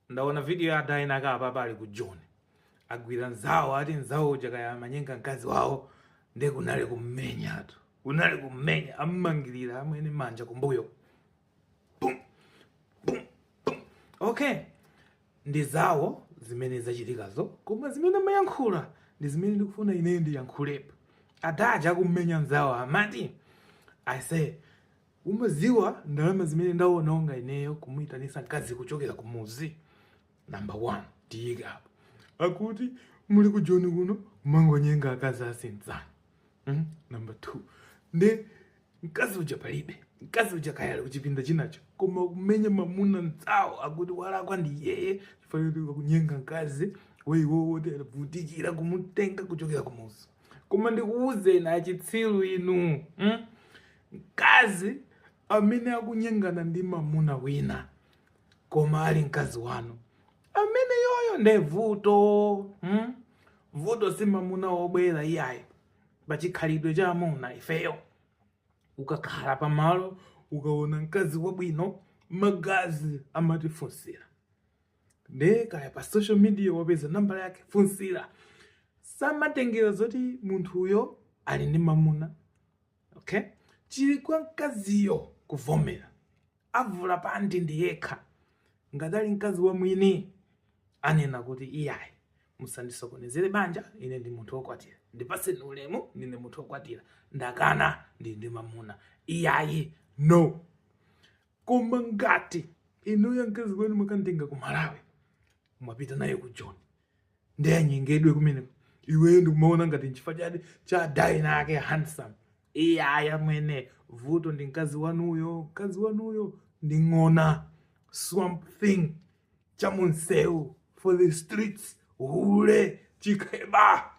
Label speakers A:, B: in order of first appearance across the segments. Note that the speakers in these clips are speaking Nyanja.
A: ndaona video ya adayina ake apapa ali ku joni agwira nzawo ati nzawo uja kaya amanyenga mkazi wawo nde kunali kummenyatu kunali kummenya ammangirira amwene manja kumbuyo Pum, pum, pum. okay ndi zawo zimene zachitikazo koma zimene amayankhula ndi zimene ndikufuna ineyo ndiyankhulepo ada aja akummenya nzawo amati i say Umadziwa ndalama zimene ndawononga ineyo kumuyitanitsa mkazi kuchokera kumudzi? Number one, tiyike apo. Akuti muli ku Joni kuno kumangonyenga akazi a anzanu. Mm? Number two, nde mkazi uja palibe mkazi uja kayali kuchipinda chinacho koma kumenya mamuna mnzawo akuti walakwa ndi yeye chifukwa akunyenga mkazi wa iwowo atavutikira kumutenga kuchokera kumuzi koma ndikuwuzeni achitsiru inu mm? Mkazi amene akunyengana ndi mamuna wina koma ali mkazi wanu ameneyoyo nde vuto hmm? vuto si mamuna wobwera iyayi pachikhalidwe cha amuna ifeyo ukakhala pamalo ukaona mkazi wabwino magazi amati funsira nde kaya pa social media wapeza number yake funsira samatengera zoti munthuyo ali ndi mamuna okay chili kwa mkaziyo kuvomera avula panti ndi yekha ngati ali mkazi wa mwini anena kuti iyayi musandisokonezere banja ine ndi munthu wokwatira ndipaseni ulemu ndine munthu wokwatira ndakana ndili ndi mamuna iyayi no koma ngati inuyo mkazi wanu mwakamutenga ku malawi mwapita naye ku joni nde anyengedwe kumeneko iweyo ndikumaona ngati nchifukwa cha chadayina ake handsome iye aya mwene vuto ndi mkazi wanuyo mkazi wanuyo ndi ng'ona swamp thing cha munsewu for the streets hule chikheba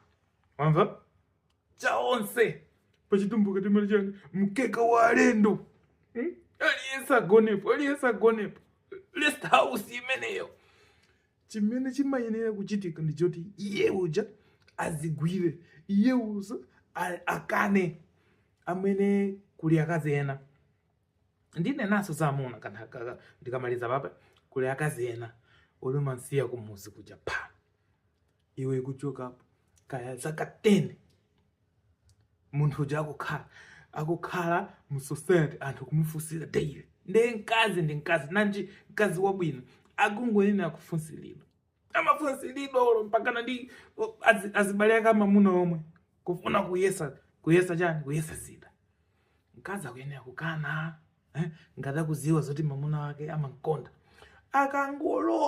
A: wamva chawonse pachitumbuka timati chani mkeka wa alendo hmm? aliyense agonepo aliyense agonepo rest house imeneyo Chimene chimayenera kuchitika ndi choti iye uja azigwire, iye uja akane amene kuli akazi ena ndinenanso za amuna kanthaka ndikamaliza apapa kuli akazi ena oumansiya kumuzi kuja pha iwe kuchokapo kaya zaka 10 munthu uja akukhala akukhala mu society anthu kumufunsira daily ndiye mkazi ndi mkazi nanji mkazi wabwino akungoyenera kufunsiridwa amafunsiridwa olo mpakana ndi o, azi- azibale ake amamuna omwe kufuna kuyesa kuyesa chani kuyesa zida mkazi akuyenera kukana eh? ngati akuziwa zoti mamuna wake amamkonda akangolowa